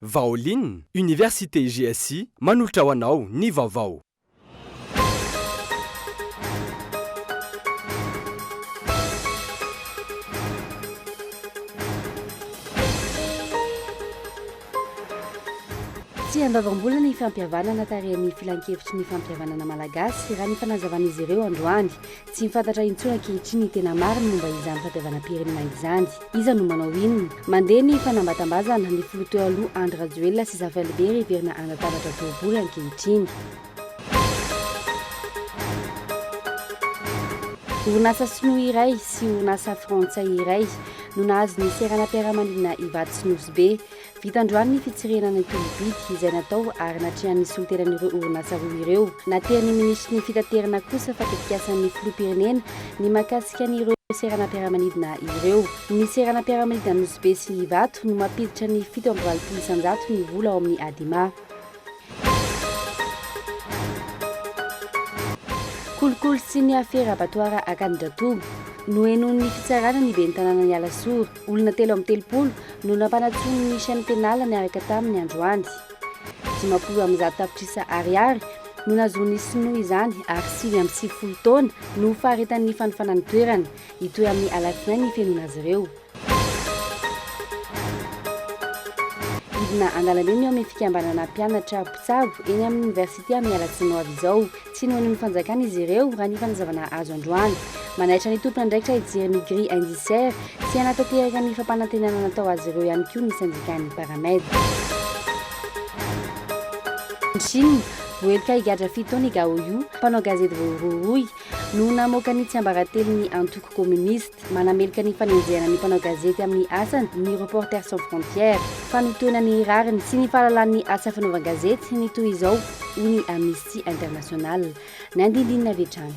Vaolin, Université GSI manolotra ho anao ny vaovao. Tsy handoavam-bola ny fampihavanana tarihan'ny Filankevitry ny Fampihavanana Malagasy, raha ny fanazavan'izy ireo androany. Tsy fantatra intsony ankehitriny ny tena marina momba izany fahadiavanam-pirenena izany. Iza no manao inona? Mandeha ny fanambatambazana, ny filoha teo aloha Andry Rajoelina sy Zafy Alibert heverina hanatambatra boribory ankehitriny. Orinasa sinoa iray sy orinasa frantsay iray no nahazo ny seranam-piaramanidina Ivato sy Nosy Be. Vita androany ny fitsirihana ny tolo-bidy izay natao ary natrehan'ny solontenan'ireo orinasa roa ireo. Natrehan'ny minisitry ny Fitaterana kosa fa tetikasan'ny filoham-pirenena ny mahakasika an'ireo seranam-piaramanidina ireo. Ny seranam-piaramanidina Nosy Be sy Ivato no mampiditra ny fito amby valopolo isan-jato ny vola ao amin'ny Adema. Kolikoly sy ny afera abatoara Akanidratobo. Nohenoin'ny fitsarana ny ben'ny tanànan'i Alasora. Olona telo amby telopolo no nampanatsoin'ny chaîne pénale niaraka taminy androany. Dimampolo amby zato tapitrisa Ariary no nahazoan'ny sinoa izany ary sivy amby sivifolo taona no faharetan'ny fanofanany toerana hitohy amin'ny alatsinainy hifenoina azy ireo. Hidina an-dalambe ny ao amin'ny fikambanana mpianatra mpitsabo eny amin'ny oniversite amin'ny alatsiny ho avy izao. Tsy nohaino ny fanjakana izy ireo raha ny fanazavana azo androany. Manaitra ny tompon'andraikitra hijery ny grille indiciaire sy hanatanteraka ny fampanantenana natao azy ireo ihany koa ny sendikan'ny Paramed. Any Chine, voaheloka higadra fito taona i Gao Yu, mpanao gazety voarohirohy, noho namoaka ny tsiambaratelon'ny antoko kominista. Manameloka ny fanenjehana ny mpanao gazety amin'ny asany ny Reporters sans frontières. Fanotoana ny rariny sy ny fahalalan'ny asa fanaovan-gazety ny toy izao, hoy ny Amnesty International. Ny andindininy avy hatrany.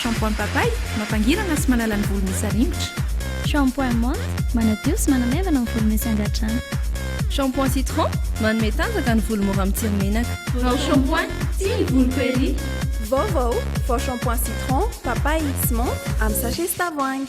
Shampoing Papay, mampangirana sy manala ny volo misy arimotra. Shampoing Menthe, manadio sy manamaivana ny volo misy angadrano. Shampoing Citron, manome tanjaka ny volo mora mitsiry menaka. Vao Shampoing, tia ny voloko ery! Vaovao, vao Shampoing Citron, Papay sy Menthe amin'ny sachet sy tavoahangy.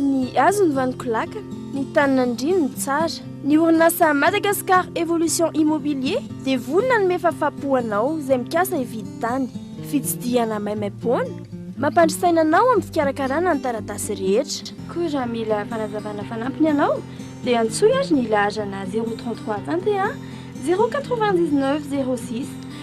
Ny hazo ny vaniko laka, ny tany nandriany ny tsara. Ny orinasa Madagascar Evolution Immobilier dia vory nanome fafapo ho anao izay mikasa hividy tany. Fitsidihana maimaimpoana, mampandry saina anao amin'ny fikarakarana ny taratasy rehetra. Koa raha mila fanazavana fanampiny ianao dia antsoy ary ny laharana zéro trente trois vingt et un zéro quatre-vingt-dix-neuf zéro six.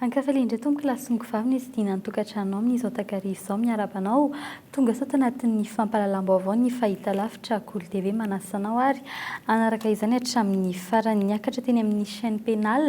Ankafale indray tompoko lahy sy noko vavy nisy dina any tokatranonao amin izao takariva izao miarahaba anao tonga sao tanatin ny fampalalam baovao ny fahita lavitra kolo TV manasa anao ary hanaraka izany hatramin ny farany niakatra teny amin ny chaine penal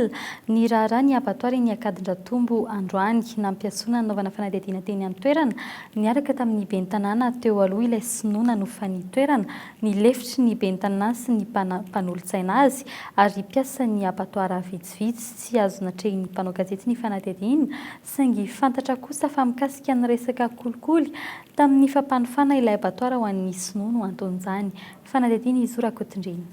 ny raharaha ny abattoir eny Ankadindratombo androany nampiasona nanaovana fanadihadiana teny an toerana niaraka tamin ny ben tanàna teo aloha ilay sinoa nanofa ny toerana ny lefitry ny ben tanàna sy ny mpanolotsaina azy ary mpiasan ny abattoir avy Vitsy tsy azo natrehin'ny mpanao gazety ny fanadihadiana, saingy fantatra kosa fa mikasika ny resaka kolikoly tamin'ny fampanofana ilay abatoara ho an'ny sinoa no anton'izany. Fanadihadiana izy io Rakotondriana.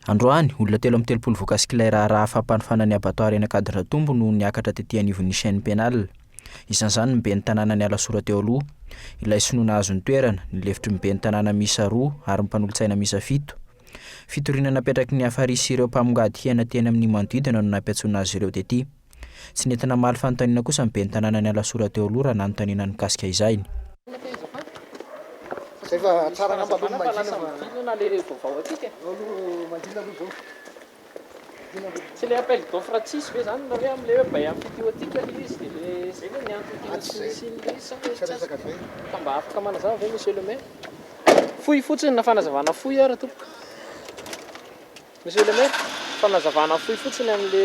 Androany, olona telo amin'ny telopolo voakasik'ilay raharaha fampanofana ny abatoara eny Ankadindratombo no niakatra tety anivon'ny chaine pénale. Isan'izany ny ben'ny tanànan'i Alasora teo aloha, ilay sinoa nahazo ny toerana, ny lefitry ny ben'ny tanàna miisa roa ary ny mpanolotsaina miisa fito. Fitoriana napetraky ny Afarisy sy ireo mpamongady hena teny amin'ny manodidina no nampiantsoana azy ireo tetỳ. Tsy nety namaly fanontaniana kosa ny ben'ny tanàna nialasora teo aloha raha nanontaniana ny mikasika izany. Tsy le appel d'offre tsisy ve zany na hoe amle hoe bail amphithéotique le izy de le zay ve ny antony tena tsy nisy ny le izy sa misy tsasa ka mba afaka manazava ve monsieur le maire? Fohy fotsiny na fanazavana fohy ary tompoko. Monsieur le maire, fanazavana fohy fotsiny amle.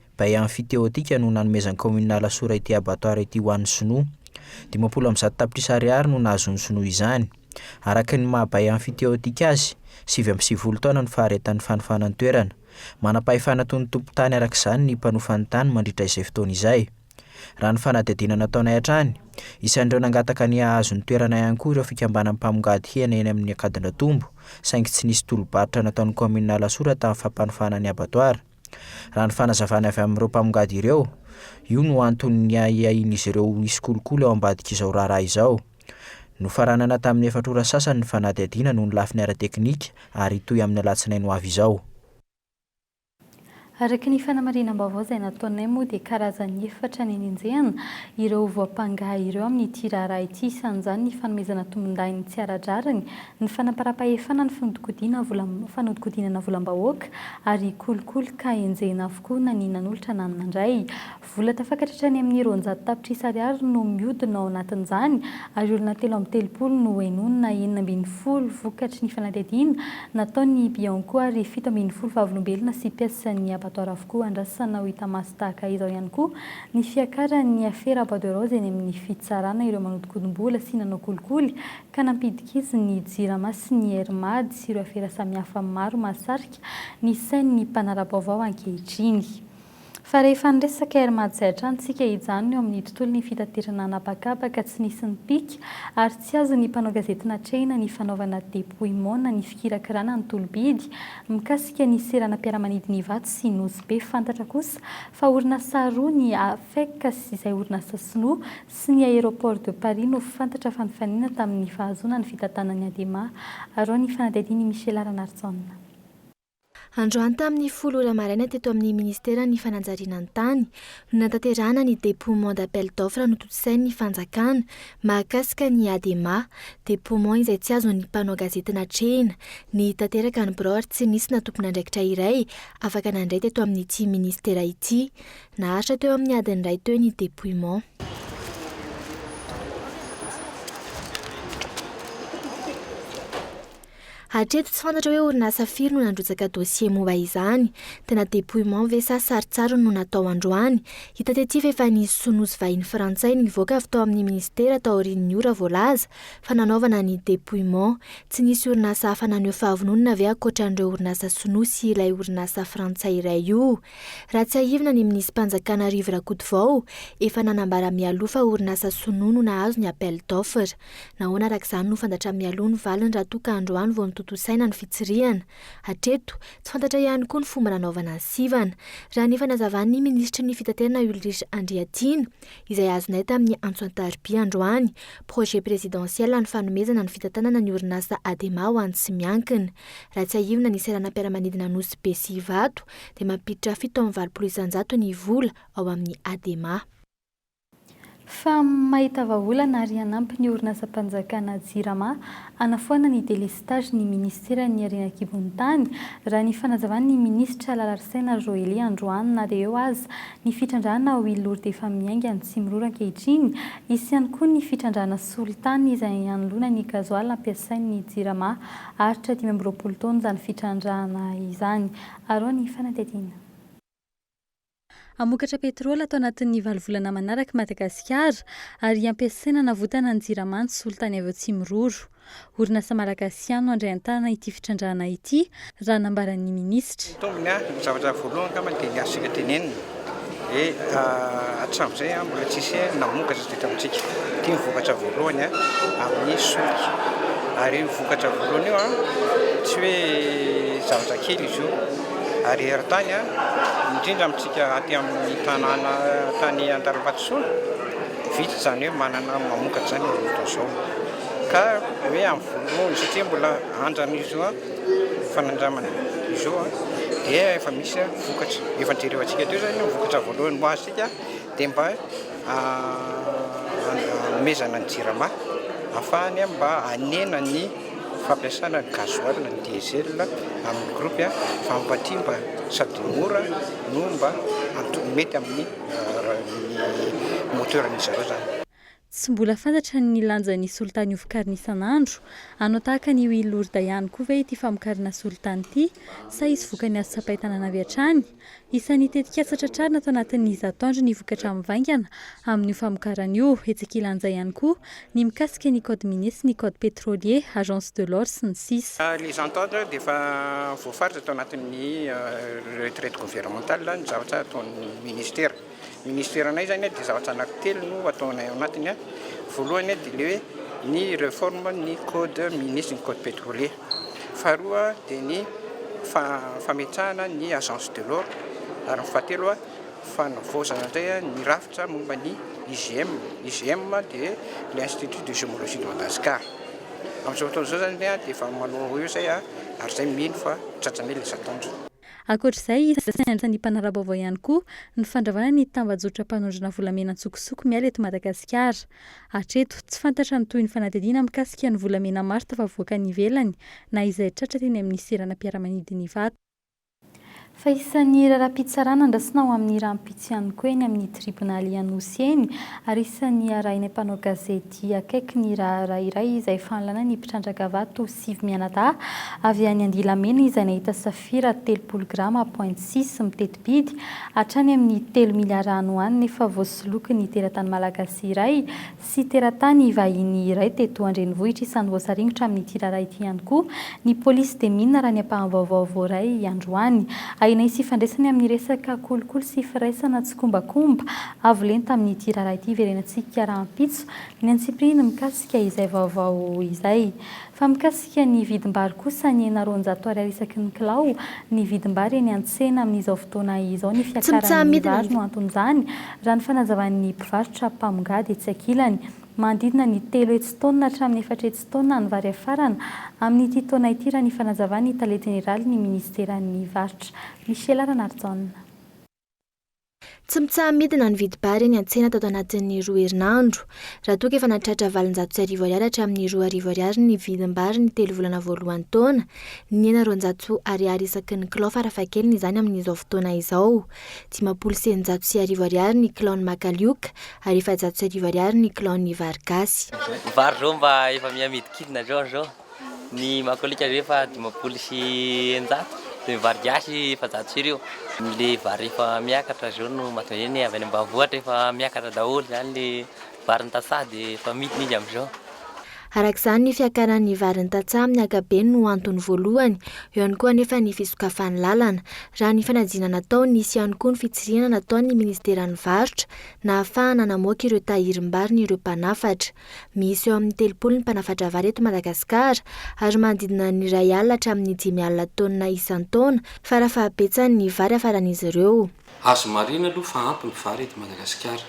Bay Amphithéotique no nanomezan'ny kaominina Alasora ity abattoir ity ho an'ny sinoa. Dimampolo amby zato tapitrisa ariary no nahazoan'ny sinoa izany. Araka ny maha Bay Amphithéotique azy, sivy amby sivifolo taona no faharetan'ny fanofanan-toerana. Manam-pahefana toy ny tompon-tany araka izany ny mpanofa ny tany mandritra izay fotoana izay. Raha ny fanadihadiana nataonay hatrany, isan'ireo nangataka ny hahazo ny toerana ihany koa ireo fikambanan'ny mpamongady hena eny amin'ny Ankadindratombo saingy tsy nisy tolo-barotra nataon'ny kaominina Alasora tamin'ny fampanofana ny abattoir. Raha ny fanazavana avy amin'ireo mpamongady ireo, io no anton'ny ahiahian'izy ireo ho hisy kolikoly ao ambadik'izao raharaha izao. Nofaranana tamin'ny efatra ora sasany ny fanadihadiana noho ny lafiny ara-teknika ary hitohy amin'ny alatsinainy ho avy izao. Araka ny fanamarinam-baovao izay nataonay moa dia karazany efatra ny nenjehana ireo voampanga ireo amin'ity raharaha ity, isan'izany ny fanomezana tombondahiny tsy ara-drariny ny fanamparam-pahefana, ny fanodikodina vola, fanodikodinana volam-bahoaka ary kolikoly ka enjehina avokoa na ny nanolotra na ny nandray. Vola tafakatra hatrany amin'ny roanjato tapitrisa ariary no mihodina ao anatin'izany ary olona telo amby telopolo no henonina enina ambin'ny folo vokatry ny fanadihadiana nataon'ny Bianco ary fito ambin'ny folo vavolombelona sy mpiasan'ny abattoir avokoa. Andrasana ho hita maso tahaka izao ihany koa ny fiakaran'ny afera Bois de Rose eny amin'ny fitsarana ireo manodikodim-bola sy nanao kolikoly ka nampidiky izy ny Jirama sy ny Air Mad sy ireo afera samihafa maro mahasarika ny sain'ny mpanara-baovao ankehitriny. Fa rehefa niresaka Air Mad izay hatrany isika hijanona eo amin'ny tontolon'ny fitaterana an'habakabaka tsy nisy nipika ary tsy azon'ny mpanao gazety natrehina ny fanaovana dépouillement ny fikirakirana ny tolobidy mikasika ny seranam-piaramanidina Ivato sy Nosy Be fantatra kosa fa orinasa roa ny AFEC sy izay orinasa sinoa sy ny Aéroport de Paris no fantatra fa nifanena tamin'ny fahazoana ny fitantanan'ny Adema, arao ny fanadihadian'i Michela Ranarijaona. Androany tamin'ny folo ora maraina teto amin'ny Ministeran'ny Fanajariana ny Tany no nanatanterahana ny dépouement d'appel d'offre notontosain'ny fanjakana mahakasika ny Adema, dépouement izay tsy azon'ny mpanao gazety natrehina ny tanteraka ny birao ary tsy nisy na tompon'andraikitra iray afaka nandray teto amin'ity Ministera ity. Naharitra teo amin'ny adiny iray teo ny dépouillement. Hatreto tsy fantatra hoe orinasa firy no nandrotsaka dossier momba izany. Tena dépouillement ve sa saritsariny no natao androany? Hita tety fa efa nisy soa nosy vahiny frantsay nivoaka avy tao amin'ny ministera taorian'ny ora voalaza fa nanaovana ny dépouillement. Tsy nisy orinasa hafa naneho fahavononana ve ankoatra an'ireo orinasa sinoa sy ilay orinasa frantsay iray io? Raha tsiahivina ny minisi-panjakana Arivo Rakotovao efa nanambara mialoha fa orinasa sinoa no nahazo ny appel d'offre. Nahoana araka izany no fantatra mialoha ny valiny raha toa ka androany vao notontosaina ny fitsirihana? Hatreto, tsy fantatra ihany koa ny fomba nanaovana ny sivana. Raha ny fanazavan'ny minisitry ny fitaterana Ulrich Andriatiana, izay azonay tamin'ny antso an-tarobia androany, projet présidentiel ny fanomezana ny fitantanana ny orinasa Adema ho an'ny tsy miankina. Raha tsiahivina ny seranam-piaramanidina Nosy be sy Ivato dia mampiditra fito amby valopolo isanjato ny vola ao amin'ny Adema. Fa mahita vahaolana ary hanampy ny orinasam-panjakana Jirama hanafoana ny delestazy ny minisiteran'ny Harena an-kibon'ny tany, raha ny fanazavan'ny minisitra Lalarisaina Joely androany. Na dia eo aza ny fitrandrahana ao Ilory dia efa miainga ny Tsimiroro ankehitriny. Hisy ihany koa ny fitrandrahana solitany izay hanoloana ny gazoala ampiasain'ny Jirama Haharitra dimy amby roapolo taona izany fitrandrahana izany. Aroa ny fanadihadiana. Hamokatra petrole ato anatin'ny valo volana manaraka i Madagasikara ary hampiasaina hanavotana ny Jirama ny solitany avy ao Tsimiroro. Orinasa malagasiano no handray an-tanana ity fitrandrahana ity, raha nambaran'ny minisitra. Ny tombony, ny zavatra voalohany angambany dia ny azo isika tenenina. Dia hatramin'izay an, mbola tsy nisy namokatra izay eto amintsika. Ity no vokatra voalohany an, amin'ny solika. Ary io vokatra voalohany io an, tsy hoe zavatra kely izy io. Ary eran-tany an, indrindra amintsika aty amin'ny tanàna tany Antanimbato-Sona, vitsy izany hoe manana mamokatra izany amin'izao fotoana izao. Ka hoe amin'ny voalohany satria mbola andran'izy io an. fanandramana izao dia efa misy vokatra efa jerevantsika teo izany ny vokatra voalohany ho azontsika dia mba hanomezana ny jirama hahafahany mba hanena ny fampiasana ny gasoil, ny diesel amin'ny groupe fa mba aty mba sady mora no mba mety amin'ny moteur-n'izy ireo izany. Tsy mbola fantatra ny lanjan'ny solitany hovokarina isan'andro. Hanao tahaka an'io i Lourdes ihany koa ve ity famokarana solitany ity, sa hisy vokany azo tsapain-tanana avy hatrany? Isan'ny tetikasa tratrarina ato anatin'ny izato andro ny vokatra mivaingana amin'io famokarana io. Hetsika ilanja ihany koa ny mikasika ny code minier sy ny code petrolier, agence de l'or sy ny sisa. Ny izato andro dia efa voafaritra tao anatin'ny retraite gouvernementale ny zavatra ataon'ny ministera. Ny ministeranay izany dia zavatra anankitelo no ataonay ao anatiny. Voalohany dia ilay hoe ny réforme ny code minier sy ny code pétrolier. Faharoa dia ny fametrahana ny agence de l'eau ary ny fahatelo fanavaozana indray ny rafitra momba ny IGM. IGM dia ilay institut de gémologie de Madagascar. Amin'izao fotoana izao izany dia efa manao eo izay ary izay mino fa tratranay ilay zatoandro. Ankoatra izay, iza sy aiza ny mpanara-baovao ihany koa no fandravana ny tambajotram-panondrana volamena an-tsokosoko miala eto Madagasikara. Hatreto, tsy fantatra ny tohin'ny fanadihadiana mikasika ny volamena maro tafavoaka any ivelany na izay tratra teny amin'ny seranam-piaramanidin'i Ivato. Fa isan'ny raharaham-pitsarana andrasana ho amin'ny rahampitso ihany koa eny amin'ny tribonaly Anosy eny ary isan'ny arahina mpanao gazety. dia akaiky ny raharaha iray izay fanalana ny mpitrandraka vato sivy mianadahy avy any Andilamena izay nahita safira telopolo grama point six miteti-bidy hatrany amin'ny telo miliara any ho any nefa voasolokin'ny teratany malagasy iray sy teratany vahiny iray teto an-drenivohitra isan'ny voasaringotra amin'ity raharaha ity ihany koa ny polisy dia mino raha ny ampaham-baovao voaray androany ahinay sy ifandraisany amin'ny resaka kolikoly sy firaisana tsikombakomba Avo lenta amin'ity raharaha ity hiverenantsika rahampitso ny antsipiriany mikasika izay vaovao izay. Fa mikasika ny vidim-bary kosa nihena roanjato ariary isaky ny kilao ny vidim-bary eny an-tsena amin'izao fotoana izao ny fiakaran'ny vary no anton'izany raha ny fanazavan'ny mpivarotra mpamongady etsy ankilany. Manodidina ny telo hetsy taonina hatramin'ny efatra hetsy taonina ny vary afarana amin'ity taona ity raha ny fanazavan'ny tale jeneralin'ny minisiteran'ny varotra Michel Ranarijaona. Tsy mitsaha-midina ny vidim-bary eny an-tsena tato anatin'ny roa herinandro. Raha toa ka efa nahatratra valonjato sy arivo ariary hatramin'ny roa arivo ariary ny vidim-bary ny telo volana voalohan'ny taona, nihena roanjato ariary isaky ny kilao farafahakeliny izany amin'izao fotoana izao. Dimampolo sy eninjato sy arivo ariary ny kilaon'ny makalioka ary efajato sy arivo ariary ny kilaon'ny vary gasy. Vary zao mba efa miha midikidina zao zao. Ny makalioka vy efa dimampolo sy eninjato dia ny vary gasy efajato sy arivo. Ilay vary efa miakatra izao no mahatonga izay ny avy any ambanivohitra efa miakatra daholo izany ilay varin'ny tantsaha dia efa midina izy amin'izao. Araka izany ny fiakaran'ny varin'ny tantsaha amin'ny ankapobeny no antony voalohany. Eo ihany koa anefa ny fisokafan'ny lalana. Raha ny fanadinana natao, nisy ihany koa ny fitsirihana nataon'ny minisiteran'ny varotra nahafahana namoaka ireo tahirim-bariny ireo mpanafatra. Misy eo amin'ny telopolo ny mpanafatra vary eto Madagasikara, ary manodidina ny iray alina hatramin'ny dimy alina taonina isan-taona, fara fahabetsany, ny vary hafaran'izy ireo. Azo marihina aloha fa ampy ny vary eto Madagasikara,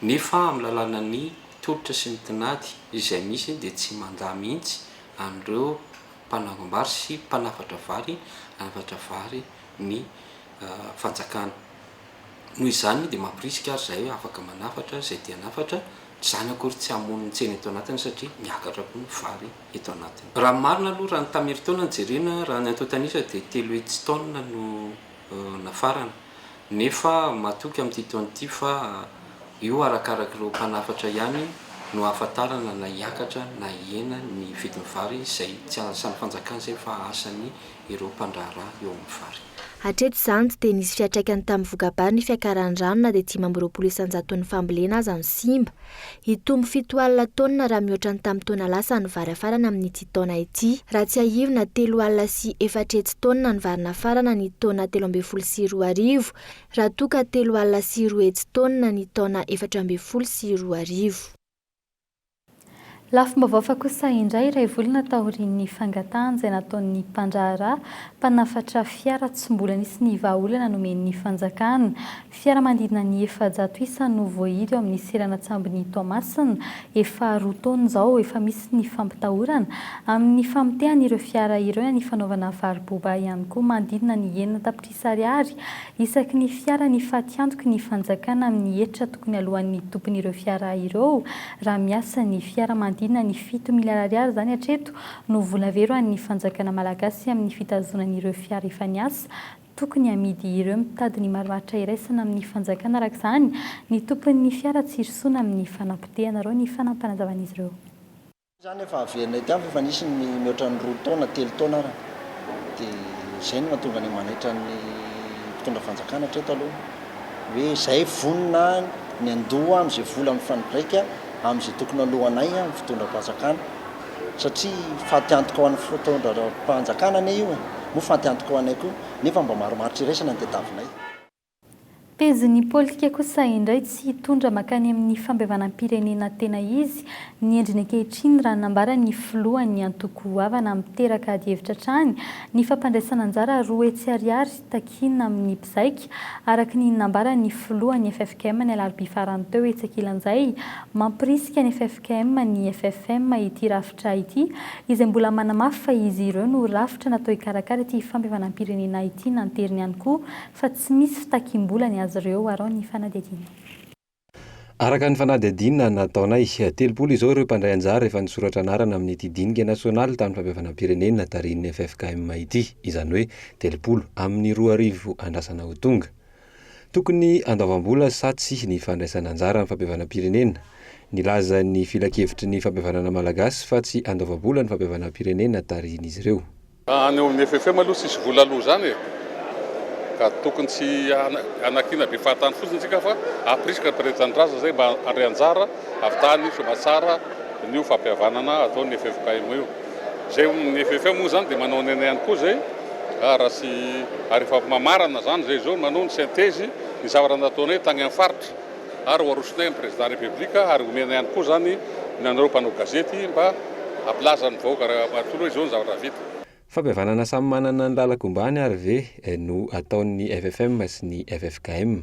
nefa amin'ny lalànan'ny tolotra sy ny tinady izay misy dia tsy mandà mihitsy an'ireo mpanangom-bary sy mpanafatra vary hanafatra vary ny fanjakana. Noho izany dia mampirisika ary izahay hoe afaka manafatra izay te hanafatra, izany akory tsy hamono ny tsena eto anatiny satria miakatra koa ny vary eto anatiny. Raha ny marina aloha, raha ny tamin'ny herintaona no jerena, raha ny antontan'isa dia telo hetsy taonina no nafarana, nefa matoky amin'ity taona ity fa io arakaraky ireo mpanafatra ihany no ahafantarana na hiakatra na hihena ny vidin'ny vary izay tsy asan'ny fanjakana izay fa asan'ny ireo mpandraharaha eo amin'ny vary. Hatreto izany dia nisy fiantraikany tamin'ny voka-bary ny fiakaran'ny rano na dia dimy amby roapolo isan-jaton'ny fambolena aza no simba. Hitombo fito alina taonina raha mihoatra ny tamin'ny taona lasa ny vary hafarana amin'ity taona ity. Raha tsiahivina, telo alina sy efatra hetsy taonina ny vary nafarana ny taona telo ambin'ny folo sy roa arivo, raha toa ka telo alina sy roa hetsy taonina ny taona efatra ambin'ny folo sy roa arivo. Lafim-baovao hafa kosa indray, iray volana taorian'ny fangatahana izay nataon'ny mpandraharaha mpanafatra fiara tsy mbola nisy ny vahaolana nomen'ny fanjakana. Fiara manodidina ny efajato isa no voahidy ao amin'ny seranan-tsambon'i Toamasina. Efa roa taona izao efa misy ny fampitahorana amin'ny famotehan'ireo fiara ireo na ny fanaovana varo-boba ihany koa manodidina ny enina tapitrisa. Ariary, isaky ny fiara ny fatiantoky ny fanjakana amin'ny hetra tokony aloan'ny tompon'ireo fiara ireo, raha miasa ny fiara manodidina ny fito miliara ariary izany hatreto no vola vero an'ny fanjakana malagasy amin'ny fitazonany ireo fiara efa niasa tokony hamidy ireo mitady ny marimaritra iraisana amin'ny fanjakana araka izany ny tompon'ny fiara tsy hirosoana amin'ny fanapotehanareo ny fanampanazavan'izy ireo. Izany efa averina ety amiko efa nisy ny mihoatra ny roa taona, telo taona ara, dia izay no mahatonga ny manaitra ny mpitondra fanjakana hatreto aloha hoe izay vonona ny handoa amin'izay vola mifandraika amin'izay tokony haloanay ny fitondram-panjakana satria fatiantoka ho an'ny fitondram-panjakana anie io e! moa fatiantoka ho anay koa nefa mba marimaritra iraisana ny tadiavinay. Pejin'ny politika kosa indray tsy hitondra mankany amin'ny fampihavanam-pirenena tena izy ny endriny ankehitriny raha nambaran'ny filohan'ny antoko goavana miteraka adihevitra hatrany ny fampandraisana anjara roa hetsy ariary takiana amin'ny mpizaika araka ny nambaran'ny filohan'ny ffkm ny alarobia farany teo etsy ankilan'izay mampirisika ny ffkm ny ffm ity rafitra ity izay mbola manamafy fa izy ireo no rafitra natao hikarakara ity fampihavanam-pirenena ity nanteriny ihany koa Fa tsy misy fitakiam-bola ny azy ireo arao ny fanadihadiana. Araka ny fanadihadiana nataonay, telopolo izao ireo mpandray anjara efa nisoratra anarana amin'ity dinika nasionaly tamin'ny fampihavanam-pirenena tarihin'ny ffkm ity, izany hoe telopolo amin'ny roa arivo andrasana ho tonga. Tokony handoavam-bola sa tsia ny fandraisana anjara amin'ny fampihavanam-pirenena? Nilaza ny filankevitry ny fampihavanana malagasy fa tsy handoava-bola ny fampihavanam-pirenena tarihin'izy ireo. Any amin'ny FFM aloha tsisy vola aloha izany e! Ka tokony tsy hanakiana be fahatany fotsiny tsika fa aprisika ny mpiray tanindrazana izay mba handray anjara avy tany soamantsara n'io fampihavanana ataon'ny ffkm io. Izay ny FFM moa izany dia manao ny ainy ihany koa izay ary raha tsy ary efa mamarana izany izay izao manao ny synthèse ny zavatra nataonay tany amin'ny faritra. ary ho arosonay amin'ny Prezidà Repoblika ary omena ihany koa izany ny anareo mpanao gazety mba hampilaza amin'ny vahoaka manontolo hoe izao ny zavatra vita. Fampihavanana samy manana ny lalan-kombany ary ve no ataon'ny FFM sy ny ffkm?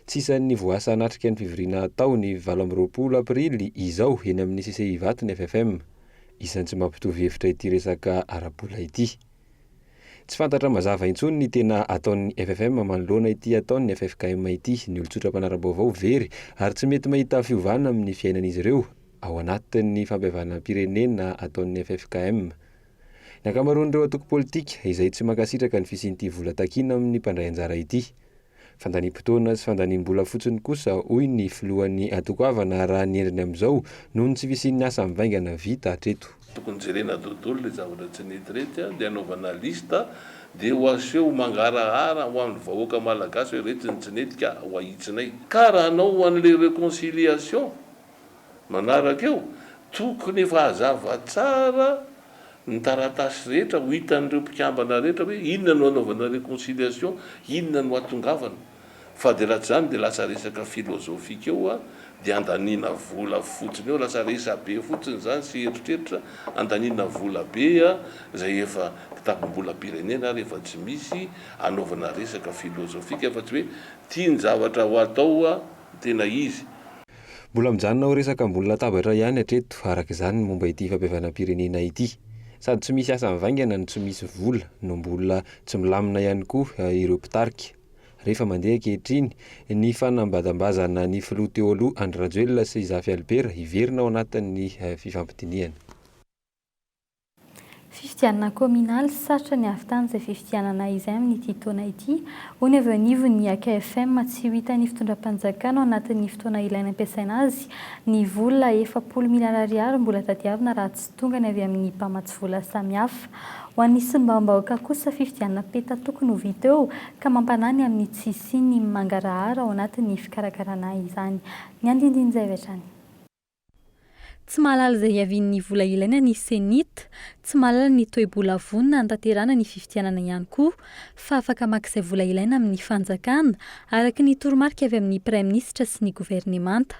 Tsy isan'ny voasa hanatrika ny fivoriana hatao ny valo amby roapolo aprily izao eny amin'ny CCI Ivato ny FFM. Isan'ny tsy mampitovy hevitra ity resaka ara-bola ity. Tsy fantatra mazava intsony ny tena ataon'ny FFM manoloana ity ataon'ny ffkm ity. Ny olon-tsotra mpanara-baovao very ary tsy mety mahita fiovana amin'ny fiainan'izy ireo ao anatin'ny fampihavanam-pirenena ataon'ny ffkm. Ny ankamaroan'ireo antoko politika izay tsy mankasitraka ny fisian'ity vola takiana amin'ny mpandray anjara ity. Fandaniam-potoana sy fandaniam-bola fotsiny kosa, hoy ny filohan'ny antoko havana raha ny endriny amin'izao, noho ny tsy fisian'ny asa mivaingana vita hatreto. Tokony jerena dodolo le zavatra tsy nety retsy a, de anaovana liste de ho aseho mangarahara ho an'ny vahoaka malagasy hoe retsy ny tsy nety ka ho ahitsinay. Ka raha hanao an'le reconciliation manaraka eo, tokony efa hazava tsara ny taratasy rehetra ho hitan'ireo mpikambana rehetra hoe inona no hanaovana reconciliation, inona no hatongavana. Fa dia raha tsy izany dia lasa resaka philosophique eo dia andaniana vola fotsiny eo, lasa resabe fotsiny izany sy eritreritra, andaniana vola be izay efa kitapom-bolam-pirenena ary efa tsy misy hanaovana resaka philosophique fa tsy hoe ity ny zavatra ho atao tena izy. Mbola mijanona ho resaka ambony latabatra ihany hatreto, araka izany, ny momba ity fampihavanam-pirenena ity. Sady tsy misy asa mivaingana no tsy misy vola no mbola tsy milamina ihany koa ireo mpitarika. Re fa mandeha ankehitriny ny fanambadambazana ny filoha teo aloha Andry Rajoelina sy Zafy Albert hiverina ao anatin'ny fifampidinihana. Fifidianana kaominaly sarotra ny hahavitana izay fifidianana izay amin'ity taona ity, hoy ny avy eo anivon'ny akfm. Tsy ho hitan'ny fitondram-panjakana ao anatin'ny fotoana ilaina ampiasaina azy ny vola efapolo miliara ariary mbola tadiavina raha tsy tonga ny avy amin'ny mpamatsy vola samihafa. Ho an'ny solombavambahoaka kosa, fifidianana peta tokony ho vita eo ka mampanahy ny amin'ny tsy hisian'ny mangarahara ao anatin'ny fikarakarana izany. Ny andinindin'izay avy hatrany. Tsy mahalala izay hiavian'ny vola ilaina ny Cenit, tsy mahalala ny toe-bola vonona hanatanterahana ny fifidianana ihany koa, fa afaka maka izay vola ilaina amin'ny fanjakana, araka ny toromarika avy amin'ny Praiminisitra sy ny governemanta.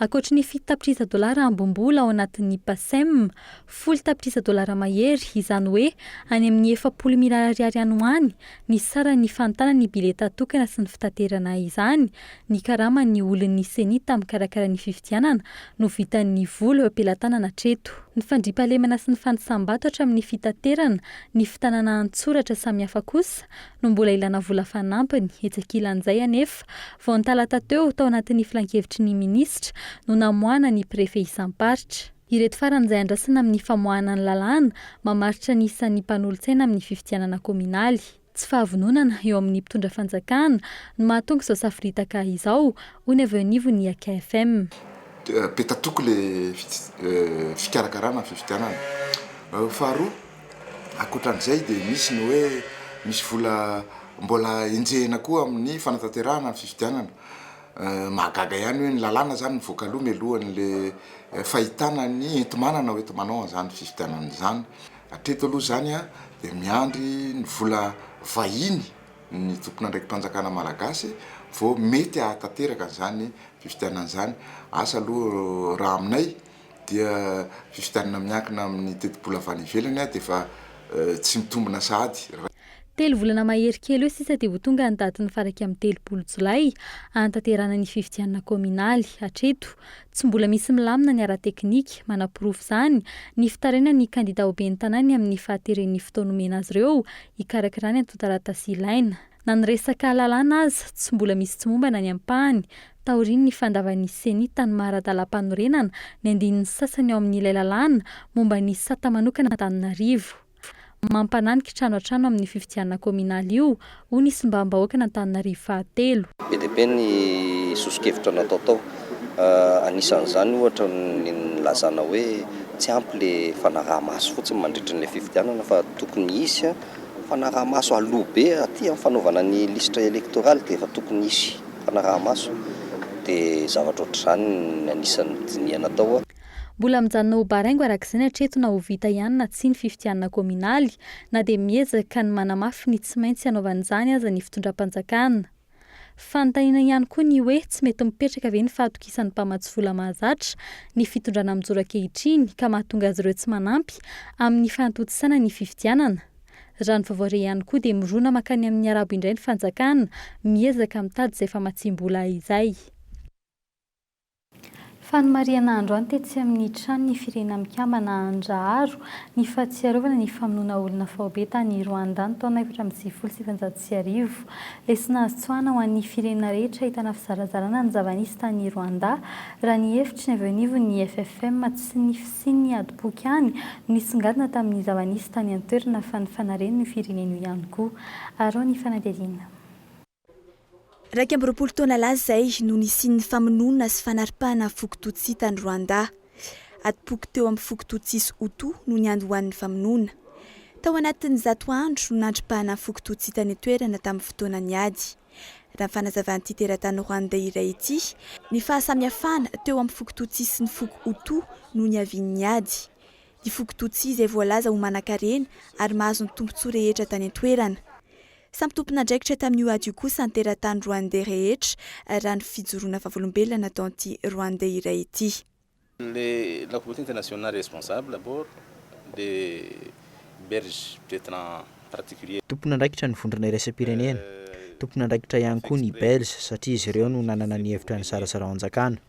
Ankoatry ny fito tapitrisa dolara ambom-bola ao anatin'ny Pacem, folo tapitrisa dolara mahery, izany hoe any amin'ny efapolo mirary ariary any ho any, ny saran'ny fanontana ny bileta tokana sy ny fitaterana izany, ny karaman'ny olon'ny Ceni tamin'ny mikarakara ny fifidianana no vitan'ny vola eo am-pelatanana hatreto. Ny fandriampahalemana sy ny fanisam-bato hatramin'ny fitaterana, ny fitanana an-tsoratra samihafa kosa no mbola ilana vola fanampiny. Etsy ankilan'izay anefa, vao ny talata teo, tao anatin'ny filankevitry ny minisitra, no namoahana ny prefe isam-paritra. Ireto farany izay andrasana amin'ny famoahana ny lalàna mamaritra ny isan'ny mpanolotsaina amin'ny fifidianana kaominaly. Tsy fahavononana eo amin'ny mpitondra fanjakana no mahatonga izao saforitaka izao, hoy ny avy eo anivon'ny AKFM. Be tatoky ilay fikarakarana ny fifidianana. Faharoa, ankoatran'izay dia misy ny hoe misy vola mbola enjehina koa amin'ny fanatanterahana ny fifidianana. Mahagaga ihany hoe ny lalàna zany mivoaka aloha mialohan'ny le fahitana ny enti-manana ho enti-manao an'izany fifidianana izany. Hatreto aloha izany dia miandry ny vola vahiny ny tompon'andraiki-panjakana malagasy vao mety hahatanteraka an'izany fifidianana izany. Asa aloha raha aminay dia fifidianana miankina amin'ny tetibola avy any ivelany dia efa tsy mitombina sahady. Telo volana mahery kely eo sisa dia ho tonga ny datin'ny fara iraika amby telopolo jolay hahantanterahana ny fifidianana kaominaly. Hatreto, tsy mbola misy milamina ny ara-teknika. Manaporofo izany ny fitarainan'ny kandida ho ben'ny tanàna ny amin'ny fahateren'ny fotoana omena azy ireo hikarakara ny antontan-taratasy ilaina. Na ny resaka lalàna aza, tsy mbola misy tsy mombana ny ampahany, taorian'ny fandavan'ny Ceni tany Maharadalam-panorenana ny andininy sasany ao amin'ilay lalàna momba ny sata manokana an'Antananarivo. Mampanahy ny kitrano hatrano amin'ny fifidianana kaominaly io, hoy ny Solombavambahoakan'Antananarivo fahatelo. Be dia be ny soso-kevitra natao tao. Anisan'izany ohatra ny nilazana hoe tsy ampy ilay fanaraha-maso fotsiny mandritry ilay fifidianana fa tokony hisy Fanaraha-maso aloha be aty amin'ny fanaovana ny lisitra elektoraly dia efa tokony hisy fanaraha-maso dia zavatra ohatr'izany ny anisan'ny dinihana atao. Mbola mijanona ho baraingo araka izay ny hatreto na ho vita ihany na tsia ny fifidianana kaominaly na dia miezaka ny manamafy ny tsy maintsy hanaovana izany aza ny fitondram-panjakana. Fanontaniana ihany koa ny hoe tsy mety mipetraka ve ny fahatokisan'ny mpamatsy vola mahazatra ny fitondrana mijoro ankehitriny ka mahatonga azy ireo tsy manampy amin'ny fanatontosana ny fifidianana? Raha ny vaovao re ihany koa dia mirona mankany amin'ny arabo indray ny fanjakana miezaka mitady izay famatsiam-bola izay. Fanomarihana androany tetsy amin'ny tranon'ny Firenena Mikambana Andraharo ny fahatsiarovana ny famonoana olona faobe tany Rwanda ny taona efatra amby sivifolo sy sivinjato sy arivo. Lesona azo tsoahina ho an'ny firenena rehetra ahitana fizarazarana ny zava-nisy tany Rwanda raha ny hevitry ny avy eo anivon'ny FFM tsy ny fisian'ny adim-poky any no nisongadina tamin'ny zava-nisy tany an-toerana fa ny fanariany io firenena io ihany koa. Araho ny fanadihadiana. Iraika amby roapolo taona lasa izay no nisian'ny famonoana sy fanaripahana foko Tutsi tany Rwanda. Adim-poko teo amin'ny foko Tutsi sy Hutu no niandohan'ny famonoana. Tao anatin'ny zato andro no nandripahana ny foko Tutsi tany an-toerana tamin'ny fotoanan'ny ady. Raha ny fanazavan'ity teratany Rwandais iray ity, ny fahasamihafana teo amin'ny foko Tutsi sy ny foko Hutu no niavian'ny ady. Ny foko Tutsi izay voalaza ho manankarena ary mahazo ny tombontsoa rehetra tany an-toerana. Samy tompon'andraikitra tamin'io ady io kosa ny teratany Rwandais rehetra, raha ny fijoroana vavolombelona nataon'ity Rwandais iray ity. Le la communauté internationale responsable d'abord de belge peut-etre en particulier. Tompon'andraikitra ny vondrona iraisam-pirenena, tompon'andraikitra ihany koa ny belge satria izy ireo no nanana ny hevitra nisarasaraon-jakana.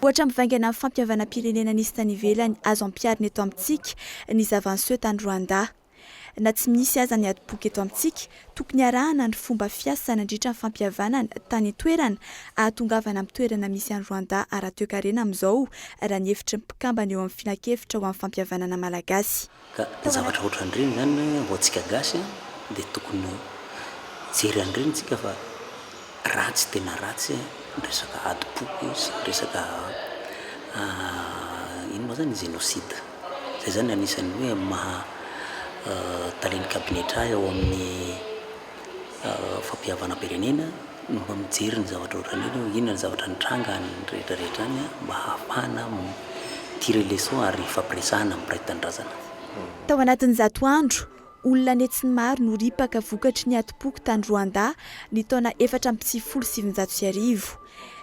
Ohatra mivaingana amin'ny fampihavanam-pirenena nisy tany ivelany azo ampiharina eto amintsika ny zava-niseho tany Rwanda. Na tsy misy aza ny adim-poko eto amintsika, tokony harahana ny fomba fiasa nandritra ny fampihavanana tany an-toerana hahatongavana amin'ny toerana misy an'i Rwanda ara-toekarena amin'izao, raha ny hevitry ny mpikambana eo amin'ny Filankevitra ho amin'ny fampihavanana malagasy. Ka zavatra ohatran'ireny zany ho antsika gasy dia tokony hijery an'ireny tsika fa ratsy tena ratsy ny resaka adim-po sy ny resaka ino moa zany genocide. Zay zany anisan'ny hoe maha talen'ny kabinetra ahy ao amin'ny. fampihavanam-pirenena no mba mijery ny zavatra ohatran'iny hoe inona ny zavatra nitranga any rehetrarehetra any mba hahafahana mi-tirer les leçons ary hifampiresahana mpiray tanindrazana. Tao anatin'izato andro, olona an'hetsiny maro no ripaka vokatry ny atim-poko tany Rwanda ny taona efatra amby sivifolo sy sivinjato sy arivo.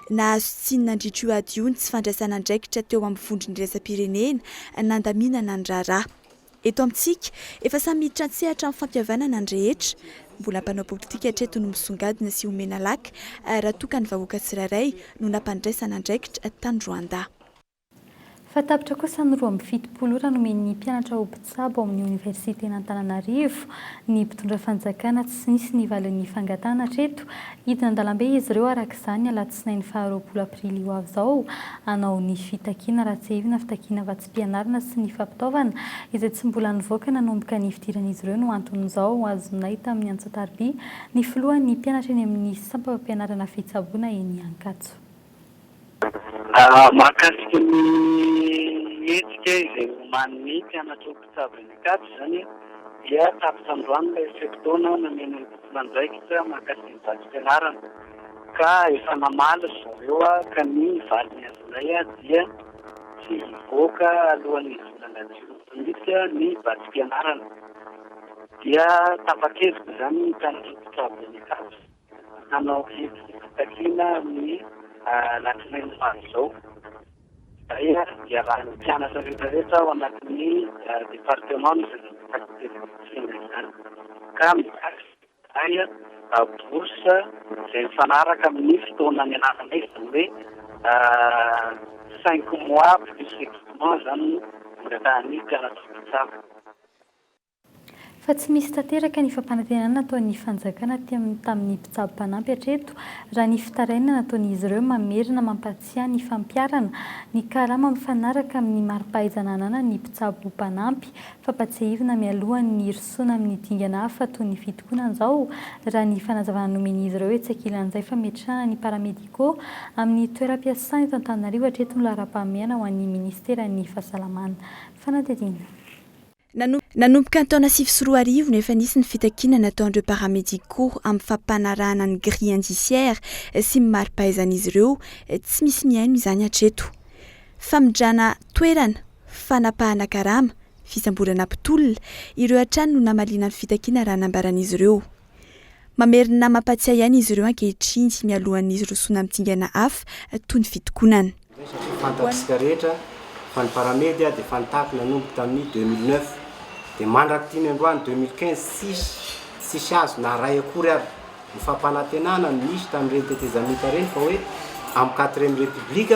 Nahazo tsiny nandritra io ady io ny tsy fandraisana andraikitra teo amin'ny vondron'iraisampirenena nandaminana ny raharaha. Eto amintsika, efa samy miditra an-tsehatra amin'ny fampihavanana ny rehetra. Mbola mpanao politika hatreto no misongadina sy omena laka, raha toa ka ny vahoaka tsirairay no nampandraisana andraikitra tany Rwanda. Fa tapitra kosa ny roa amby fitopolo ora nomen'ny mpianatra ho mpitsabo ao amin'ny Oniversiten'Antananarivo ny mpitondra fanjakana, tsy nisy ny valin'ny fangatahana hatreto. Hidina an-dalambe izy ireo araka izany alatsinainy faha roapolo aprily ho avy izao hanao ny fitakiana raha tsiahivina fitakiana fianarana sy ny fampitaovana izay tsy mbola nivoaka nanomboka ny fidiran'izy ireo no anton'izao ho azonay tamin'ny antsatariby ny filohan'ny mpianatra eny amin'ny sampam-pampianarana fitsaboana eny Ankatso. Mahakasika ny hetsika izay omanin'ny mpianatry ny mpitsabo eny Ankatso izany dia tapitra androany ilay fe-potoana nameno ny tompon'andraikitra mahakasika ny vatsim-pianarana ka efa namaly ry zareo ka ny valiny azonay dia tsy hivoaka alohan'ny volana jioly mihitsy ny vatsim-pianarana dia tapa-kevitra izany ny tanora mpitsabo any Ankatso hanao hetsika fitakiana ny alatsinainy ho avy izao. Izay iarahan'ny mpianatra rehetra rehetra ao anatin'ny departeman'ny resaka fitakiana izany ka mitaky Dia bourse izay mifanaraka amin'ny fotoana nianarana izy, izany hoe cinq mois plus examen izany no angatahan'ny mpianatra mpitsabo. Fa tsy misy tanteraka ny fampanantenana nataon'ny fanjakana tamin'ny mpitsabo mpanampy hatreto raha ny fitarainana nataon'izy ireo mamerina mampahatsiahy ny fampiharana ny karama mifanaraka amin'ny mari-pahaizana ananan'ny mpitsabo mpanampy Fampatsiahivina mialoha ny hirosoana amin'ny dingana hafa toy ny fitokonana izao, raha ny fanazavana nomen'izy ireo etsy ankilan'izay fa miatrana ny paramédicaux amin'ny toeram-piasana eto Antananarivo hatreto ny laharam-pahamehana ho an'ny minisiteran'ny fahasalamana. Fanadihadiana. Nanomboka ny taona sivy sy roa arivo no efa nisy ny fitakiana nataon'ireo paramédicaux amin'ny fampanarahana ny grille indiciaire sy ny mari-pahaizan'izy ireo, tsy misy mihaino izany hatreto. Famindrana toerana. fanapahana karama, fisamborana mpitolona, ireo hatrany no namaliana ny fitakiana raha nambaran'izy ireo. Mamerina mampatsiahy aina izy ireo ankehitriny mialohan'ny hirosoana amin'ny dingana hafa toy ny fitokonana. Fantatsika rehetra fa ny Paramedia dia efa nitaky nanomboka tamin'ny deux mille neuf dia mandrak'itony androany deux mille quinze tsisy tsisy azo na iray akory ary ny fampanantenana no nisy tamin'ireny tetezamita ireny fa hoe amin'ny quatrième république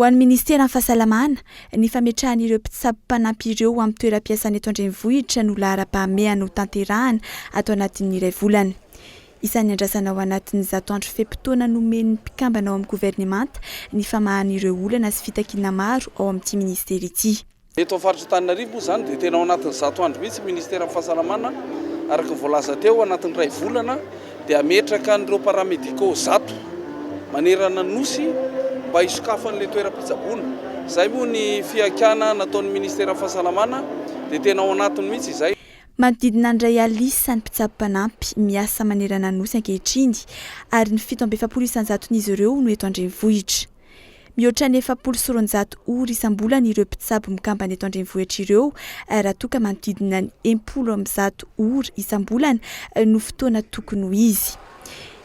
Ho an'ny minisiteran'ny Fahasalamana, ny fametrahan'ireo mpitsabo mpanampy ireo ho amin'ny toeram-piasana eto an-drenivohitra no laharam-pahamehana ho tanterahana ato anatin'ny iray volana. Isan'ny andrasana ao anatin'ny zato andro fe-potoana nomen'ny mpikambana ao amin'ny governemanta ny famahana ireo olana sy fitakiana maro ao amin'ity minisitera ity. Eto amin'ny faritra Antananarivo moa izany dia tena ao anatin'ny zato andro mihitsy ny minisiteran'ny fahasalamana, araka ny voalaza teo, anatin'ny iray volana dia hametraka an'ireo paramédicaux zato manerana ny Nosy mba hisokafan'ilay toeram-pitsaboana. Izay moa ny fihaikana nataon'ny minisiteran'ny fahasalamana dia tena ao anatiny mihitsy izay. Manodidina ny iray alina isa ny mpitsabo mpanampy miasa manerana ny Nosy ankehitriny ary ny fito amby efapolo isanjaton'izy ireo no eto an-drenivohitra. Mihoatra ny efapolo sy roanjato Eur isam-bolana ireo mpitsabo mikambana eto an-drenivohitra ireo raha toa ka manodidina ny em-polo amby zato Eur isam-bolana no fotoana tokony ho izy.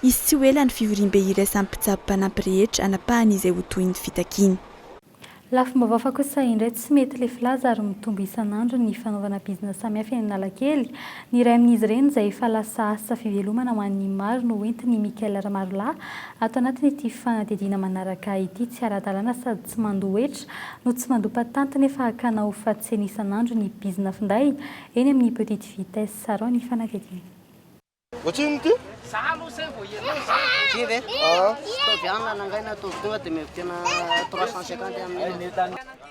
Hisy tsy ho ela ny fivoriambe iraisan'ny mpitsabo mpanampy rehetra hanapahany izay ho tohin'ny fitakiana. Lafim-baovao fa kosa indray tsy mety le filaza ary mitombo isan'andro ny fanaovana bizina samihafa eny Analakely. Ny iray amin'izy ireny izay efa lasa asa fivelomana ho an'ny maro no entin'i Michael Rmarolahy ato anatin'ity fanadihadiana manaraka ity. Tsy ara-dalàna sady tsy mandoa hetra no tsy mandoa patente nefa hakana ho fatsena isan'andro ny bizina finday eny amin'ny Petite Vitesse. Sarao ny fanadihadiana.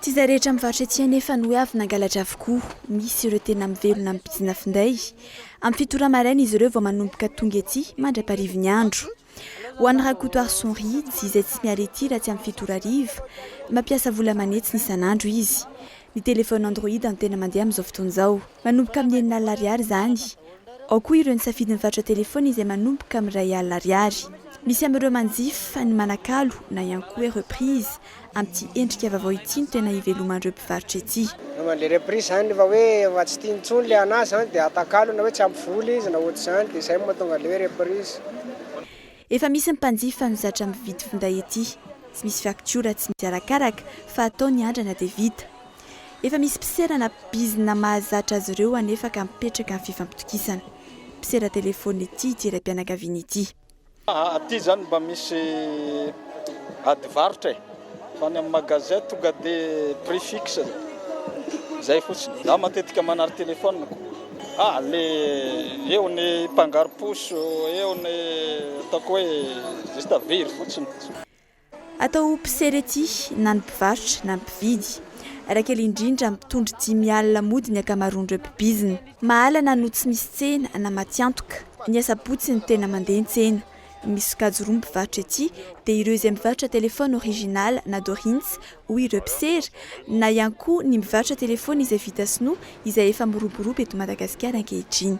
Tsy izay rehetra mivarotra ety anefa no hoe avy nangalatra avokoa. Misy ireo tena mivelona amin'ny bizina finday. Amin'ny fito ora maraina izy ireo vao manomboka tonga ety mandra-parivin'ny andro. Ho an'i Rakotoarison Rids, izay tsy miala ety raha tsy amin'ny fito ora hariva, mampiasa vola manetsina isan'andro izy. Ny telefaonina Android no tena mandeha amin'izao fotoana izao. Manomboka amin'ny enina alina ariary izany. Ao koa ireo nisafidy mivarotra telefaonina izay manomboka amin'ny iray alina ariary. Misy amin'ireo manjifa, ny manakalo, na ihany koa hoe reprise, Amin'ity endrika vaovao ity no tena hiveloman'ireo mpivarotra ety. Raha mandeha reprise izany efa hoe efa tsy tiany intsony ilay an'asa izany dia atakalo na hoe tsy ampy vola izy na ohatr'izany dia izay no mahatonga an'ilay hoe reprise. Efa misy ny mpanjifa no zatra mividy finday ety. Tsy misy faktiora, tsy misy arakaraka fa atao ny andrana dia vita. Efa misy mpisera na bizina mahazatra azy ireo anefa ka mipetraka amin'ny fifampitokisana. Mpisera telefaonina ety ity raim-pianakaviana ity. Aty zany mba misy ady varotra e! Fa any amin'ny magasin tonga de prix fixe zay fotsiny. Za matetika manary telefoniko, ah le eo ny mpangaro-poso, eo ny ataoko hoe juste very fotsiny. Atao ho mpisera ety na ny mpivarotra na ny mpividy. Raha kely indrindra, mitondry dimy alina mody ny ankamaroan'ireo mpibizina. Mahalana no tsy misy tsena na maty antoka. Ny asabotsy no tena mandeha ny tsena. Misy sokajy roa mivarotra ety, dia ireo izay mivarotra telefaony original na dorins hoy ireo mpisera, na ihany koa ny mivarotra telefaony izay vita sinoa izay efa miroborobo eto Madagasikara ankehitriny.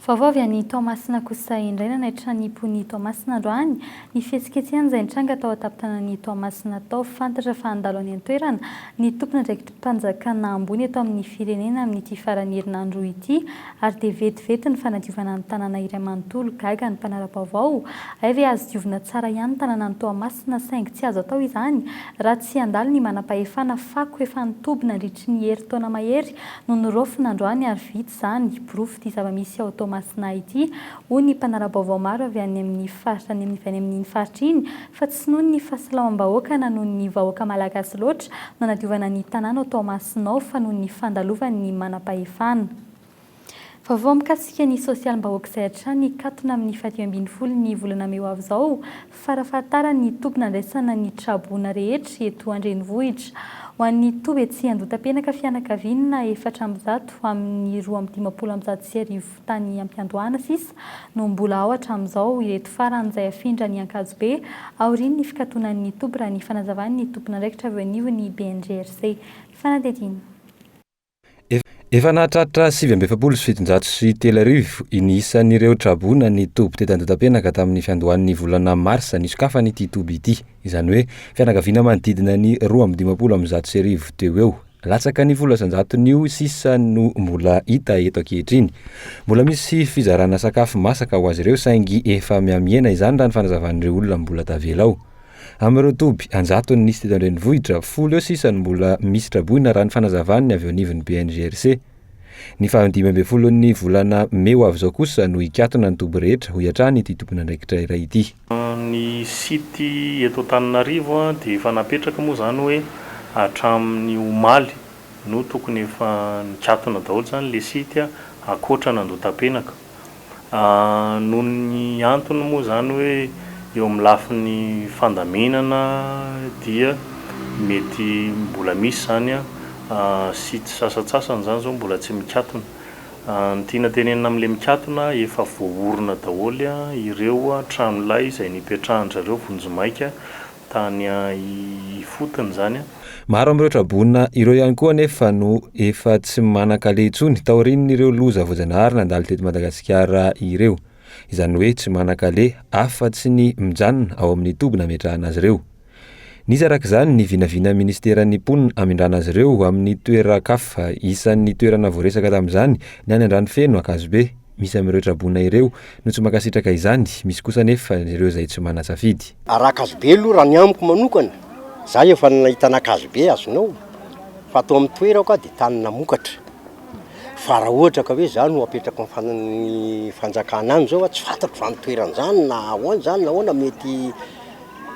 Vaovao avy any Toamasina kosa indray nanaitra ny mponin'i Toamasina androany ny fihetsiketsehana izay nitranga tao an-tampon-tanan'i Toamasina tao. Fantatra fa handalo any an-toerana ny tompon'andraikitim-panjakana ambony eto amin'ny firenena amin'ity faran'ny herinandro ity ary dia vetivety ny fanadiovana ny tanàna iray manontolo. Gaga ny mpanara-baovao, hay ve azo diovina tsara ihany ny tanànan'i Toamasina saingy tsy azo atao izany raha tsy handalo ny manam-pahefana fako efa nitoby nandritry ny herintaona mahery no noraofina androany ary vita izany, porofo ity zava-misy ao Toamasina ity, hoy ny mpanara-baovao maro avy any amin'ny faritra any avy any amin'iny faritra iny, fa tsy noho ny fahasalamam-bahoaka na noho ny vahoaka malagasy loatra no anadiovana ny tanàna ao Toamasina ao fa noho ny fandalovan'ny manam-pahefana. Vaovao mikasika ny sosialim-bahoaka izay hatrany nikatona amin'ny fahadimy ambin'ny folo ny volana mey ho avy izao, Farafahatarany ny toby nandraisana ny traboina rehetra eto an-drenivohitra. Ho an'ny toby etsy Andohatapenaka fianakaviana efatra amby zato amin'ny roa amby dimampolo amby zato sy arivo tany am-piandohana sisa no mbola ao hatramin'izao ireto farany izay hafindra any Ankazobe aorian'ny fikatonan'ny toby raha ny fanazavan'ny tompon'andraikitra avy eo anivon'ny BNGRC. Fanadihadiana. Efa nahatratra sivy amby efapolo sy fitonjato sy telo arivo ny isan'ireo traboina ny toby teto Andotapenaka tamin'ny fiandohan'ny volana marsa nisokafana ity toby ity, izany hoe fianakaviana manodidina ny roa amby dimampolo amby zato sy arivo teo ho eo. Latsaka ny folo isanjaton'io sisa no mbola hita eto ankehitriny. Mbola misy fizarana sakafo masaka ho azy ireo saingy efa mihamihena izany raha ny fanazavan'ireo olona mbola tavela ao. Amin'ireo toby an-jatony nisy teto an-drenivohitra, folo eo sisa no mbola misy traboina, raha ny fanazavany ny avy eo anivon'ny BNGRC. Ny faha dimy ambin'ny folon'ny volana mey ho avy izao kosa no hikatona ny toby rehetra, hoy hatrany ity tompon'andraikitra iray ity. Ny site eto Antananarivo dia efa napetraka moa izany hoe hatramin'ny omaly no tokony efa nikatona daholo izany ilay site ankoatra an'Andotapenaka. Noho ny antony moa izany hoe eo amin'ny lafiny fandaminana dia mety mbola misy izany sites sasantsasany izany izao mbola tsy mikatona. Ny tiana tenenina amin'ilay mikatona efa voaorina daholo ireo tranolay izay nipetrahan-dry zareo vonjimaika. tany ifotony izany. Maro amin'ireo tra-boina ireo ihany koa anefa no efa tsy manan-kaleha intsony taorian'ireo loza voajanahary nandalo teto Madagasikara ireo. Izany hoe tsy manan-kaleha afa-tsy ny mijanona ao amin'ny toby nametrahana azy ireo. Nisy araka izany ny vinavinain'ny minisiteran'ny mponina hamindrana azy ireo amin'ny toeran-kafa. Isan'ny toerana voaresaka tamin'izany ny any Andranofeno, Ankazobe. Misy amin'ireo traboina ireo no tsy mankasitraka izany, misy kosa anefa ireo izay tsy manan-tsafidy. Arakazo be aloha raha ny amiko manokana, za efa nahita anakazo be azonao fa ato amin'ny toerako aho dia tany namokatra fa raha ohatra ka hoe za no apetrako amin'ny fana- ny fanjakana any zao aho tsy fantatro zany toerana zany na ahoana zany na ahoana mety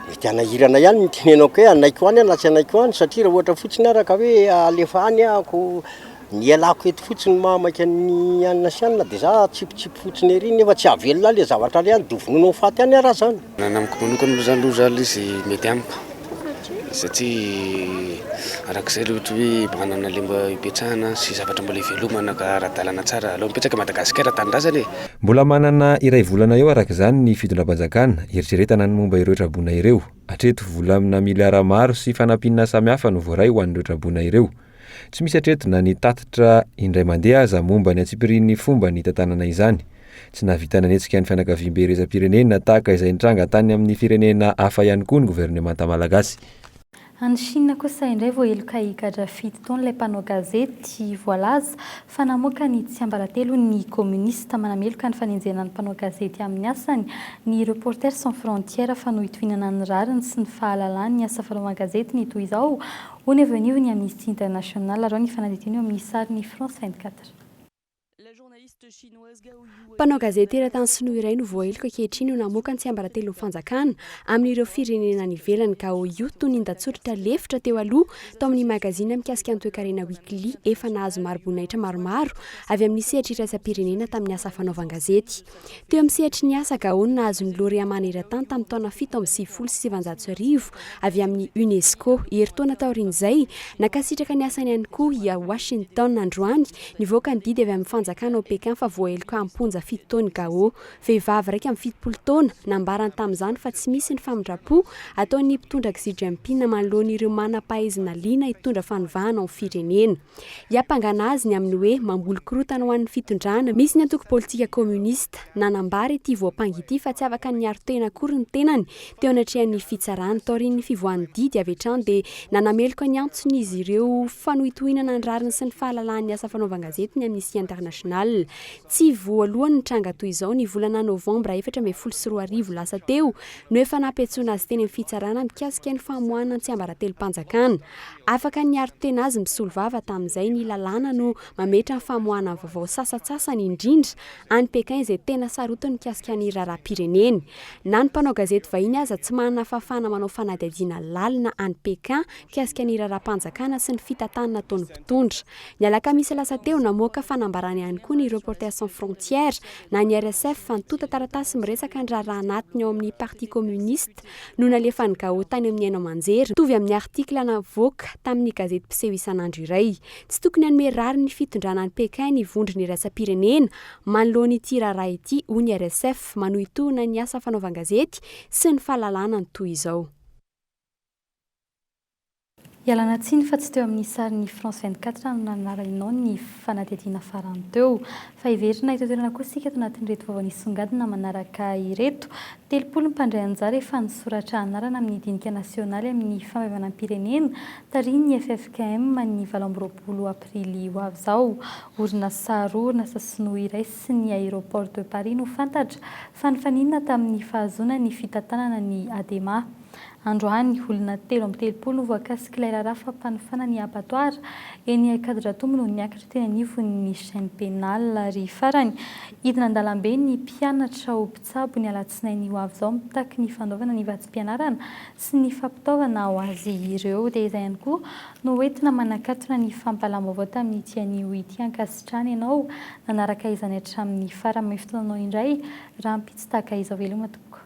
mety hanahirana ihany ny tenenako hoe hanaiko any aho na tsy hanaiko any satria raha ohatra fotsiny ara ka hoe alefa any ahako Ny ialako eto fotsiny mahamaika ny anona sy anona dia za atsipitsipy fotsiny ery nefa tsy ahavelona ahy le zavatra ary any dovonoina ho faty any ary aza any. Ny amiko manokana aloha zany loza ilay izy mety amiko satria arak'izay le ohatra hoe mba hanana le mba hipetrahana sy zavatra mbola hivelomana ka ara-dalana tsara aleo mipetraka Madagasikara tanindrazana e! Mbola manana iray volana eo araka izany ny fitondram-panjakana, eritreretana ny momba ireo traboina ireo. Hatreto, volamina miliara maro sy fanampiana samihafa no voaray ho an'ireo traboina ireo. Tsy misy hatreto na ny tatitra indray mandeha aza momba ny antsipirian'ny fomba ny hitantanana izany. Tsy nahavita nanetsika ny fianakaviambe iraisam-pirenena tahaka izay nitranga tany amin'ny firenena hafa ihany koa ny governemanta malagasy. Any Chine kosa indray voaheloka higadra fito taona ilay mpanao gazety voalaza fa namoaka ny tsiambaratelo ny kominista. Manameloka ny fanenjehana ny mpanao gazety amin'ny asany ny Reporters sans frontières fa nohitohinana ny rariny sy ny fahalalany ny asa fanaovan-gazety ny toy izao Hoy ny avy eo anivon'ny Amnesty International, araho ny fanadihadiana eo amin'ny sarin'ny France vingt quatre. Mpanao gazety teratany sinoa iray no voaheloka ankehitriny ho namoaka ny tsiambaratelon'ny fanjakana amin'ireo firenena any ivelany, Gao Yu, tonin-datsoratra lefitra teo aloha tao amin'ny magazine mikasika ny toekarena Weekly, efa nahazo mariboninahitra maromaro avy amin'ny sehatra iraisam-pirenena tamin'ny asa fanaovan-gazety. Teo amin'ny sehatry ny asa Gaon nahazo ny Lauréat maneran-tany tamin'ny taona fito amby sivifolo sy sivinjato sy arivo avy amin'ny UNESCO. Herintaona taorian'izay, nankasitraka ny asany ihany koa i Washington. Androany, nivoaka ny didy avy amin'ny fanjakana ao Pékin fa voaheloka am-ponja fito taona i Gao. Vehivavy iraika amby fitopolo taona, nambarany tamin'izany fa tsy misy ny famindram-po ataon'ny mpitondra Xi Jinping manoloana ireo manam-pahaizana liana hitondra fanovana ao firenena. Hiampangana azy ny amin'ny hoe mamboly korontana ho an'ny fitondrana. Misy ny antoko politika kominista nanambara ity voampanga ity fa tsy afaka niaro tena akory ny tenany teo anatrehan'ny fitsarana. Taorian'ny fivoahan'ny didy avy hatrany dia nanameloka ny antson'izy ireo fanohitohinana ny rariny sy ny fahalalahan'ny asa fanaovan-gazety ny Amnistia International. Tsy voalohany nitranga toy izao. Ny volana novambra efatra ambin'ny folo sy roa arivo lasa teo no efa nampiantsoana azy teny amin'ny fitsarana mikasika ny famoahana ny tsiambaratelom-panjakana. Afaka niaro tena azy misolo vava tamin'izay ny lalàna no mametra ny famoahana vaovao sasantsasany indrindra any Pékin izay tena sarotiny mikasika ny raharaham-pireneny. Na ny mpanao gazety vahiny aza tsy manana fahafahana manao fanadihadiana lalina any Pékin mikasika ny raharaham-panjakana sy ny fitantanana ataon'ny mpitondra. Ny alakamisy lasa teo, namoaka fanambarana ihany koa ny Reporters sans frontières na ny RSF fa nitonta taratasy miresaka ny raharaha anatiny ao amin'ny Parti communiste no nalefan'i Gao tany amin'ny haino aman-jery, mitovy amin'ny artikla navoaka tamin'ny gazety mpiseho isan'andro iray. Tsy tokony hanome rariny fitondrana an'i Pékin ny vondrona iraisam-pirenena manoloana ity raharaha ity, hoy ny RSF, manohintohina ny asa fanaovan-gazety sy ny fahalalahana ny toy izao. Ialana tsiny fa tsy teo amin'ny sarin'ny France vingt quatre no nanarahinao ny fanadihadiana farany teo. Fa heverina eto an-toerana kosa isika ato anatin'ireto vao nisongadina manaraka ireto. Telopolo ny mpandray anjara efa nisoratra anarana amin'ny dinika nasionaly amin'ny famaivanam-pirenena tarihin'ny ffkm ny valo amby roapolo aprily ho avy izao. Orinasa roa, orinasa sinoa iray sy ny Aéroport de Paris no fantatra fa nifaninana tamin'ny fahazoana ny fitantanana ny Adema. Androany, olona telo amby telopolo no voakasik'ilay raharaha fampanofana ny abattoir eny Ankadidratombo no niakatra teny anivon'ny chaine pénale. Ary farany, hidina an-dalambe ny mpianatra ho mpitsabo ny alatsinainy ho avy izao mitaky ny fanaovana ny vatsim-pianarana sy ny fampitaovana ho azy ireo. Dia izay ihany koa no hoentina manakatona ny fampahalam-baovao tamin'ity anio ity ankasitrahana ianao nanaraka izany hatramin'ny farany amin'ny fotoananao indray rahampitso tahaka izao veloma tompoko.